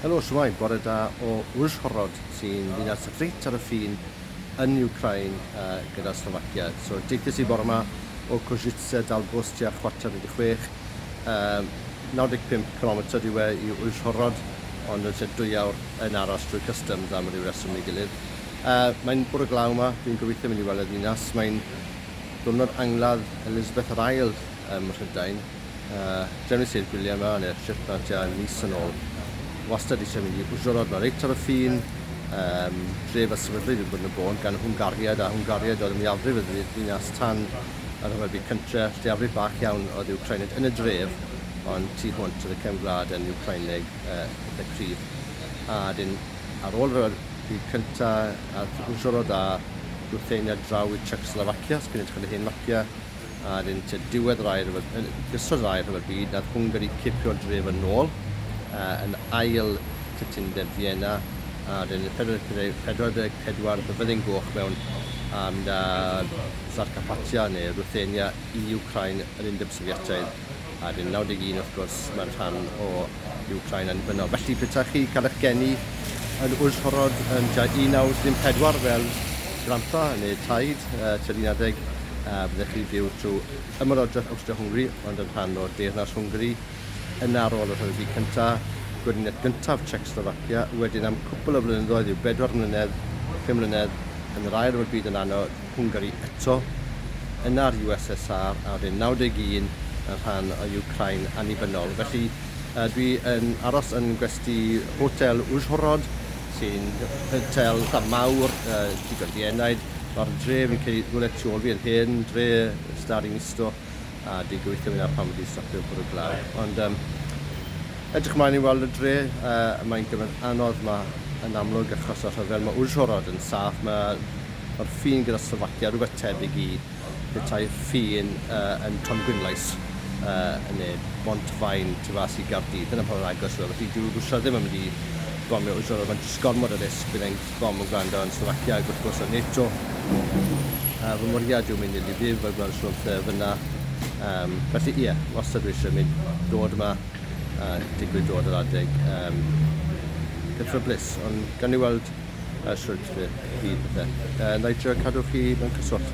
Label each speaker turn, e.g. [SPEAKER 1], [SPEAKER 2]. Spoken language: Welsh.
[SPEAKER 1] Helo shwmae, bore da o Uzhhorod sy'n ddinas reit ar y ffin yn Ukraine gyda Slovakia. So deuthais i bore ma o Kozice dal bws tua chwarter wedi chwech, 95 cilometr yw e i Uzhhorod ond yn lle dwy awr yn aros drwy customs am ryw reswm neu gilydd. Mae'n bore glaw ma, dwi'n gobeithio mynd i weld y ddinas, mae'n ddiwrnod angladd Elizabeth yr Ail ym Mhrydain. Yy, drefnais i'r gwyliau ma neu'r Shetland tua mis yn ôl. Wastad eisiau mynd i Uwchdrannod ma reit ar y ffin, yym, dref a sefydlwyd yn Gwyn y Bôn gan Hwngariaid a Hwngariaid oedd yn mwyafrif y ddinas tan y Rhyfel Byd Cyntre, lleiafrif bach iawn oedd Iwcrainid yn y dref ond tu hwnt oedd y cefn gwlad yn Iwcraineg yy eitha cryf. A 'dyn ar ôl y Rhyfel Byd Cynta ath Uwchdrannod a Rwthenia draw i Czechoslovakia, os chi'n edrych ar y hen mapia, Ar un tua diwedd ddau rhyfel, yn gyswllt â Ail Rhyfel Byd, nath Hwngari cipio'r dref yn ôl yn ail Cytundeb Fienna, a wedyn yn 1444 fe fyddin goch mewn a mynd â Zarkapatia neu Ruthenia i Wcráin, yr Undeb Sofietaidd. Ar yn 91 wrth gwrs mae'r rhan o Wcráin annibynnol. Felly petaech chi cael eich geni yn Uzhhorod yn tua 1934 fel grandpa neu taid uh, tua 19, uh, byddech chi byw trwy Ymerodraeth Awstria-Hwngri ond yn rhan o Deyrnas Hwngri, yn ar ôl y Rhyfel Byd Cyntaf, gweriniaeth gyntaf Czechslovakia, wedyn am cwpl o flynyddoedd i'w bedwar mlynedd, pum mlynedd, yn yr Ail Ryfel Byd yn anodd, Hwngari eto, yna'r USSR a fu'n 91 yn rhan o Wcráin annibynnol. Felly, dwi yn aros yn gwesty Hotel Uzhhorod, sy'n hotel eitha' mawr, digon dienaid. Ma'r dre, fi'n credu, rywle tu ôl fi yn hen dre Starinissto, a dwi'n gobeithio fy' 'na pan fi 'di stopio bwrw glaw. Ond yym, edrych mlaen i weld y dre, yy mae'n gyfnod anodd 'ma yn amlwg achos y rhyfel. Ma' Uzhhorod yn saff, ma' Mae'r ffin gyda Slovacia rhywbeth tebyg i betai'r ffin yn Tongwynlais neu Bont-faen tu fas i Gaerdydd. Dyna pa mor agos yw e. Felly dyw Rwsia ddim yn mynd i bomio Israel, mae'n jyst gormod o risg. Bydd ein bom yn gwrando yn Slovacia ac wrth gwrs yn NATO. A fy mwriad yw mynd i Lviv a gweld Trump fyna. Um, felly ie, wastad dwi eisiau mynd dod yma a digwydd dod yr adeg um, cythryblus. Ond gan ni weld a sut i chi pethe. Yy, nai trio cadw chi mewn cyswllt.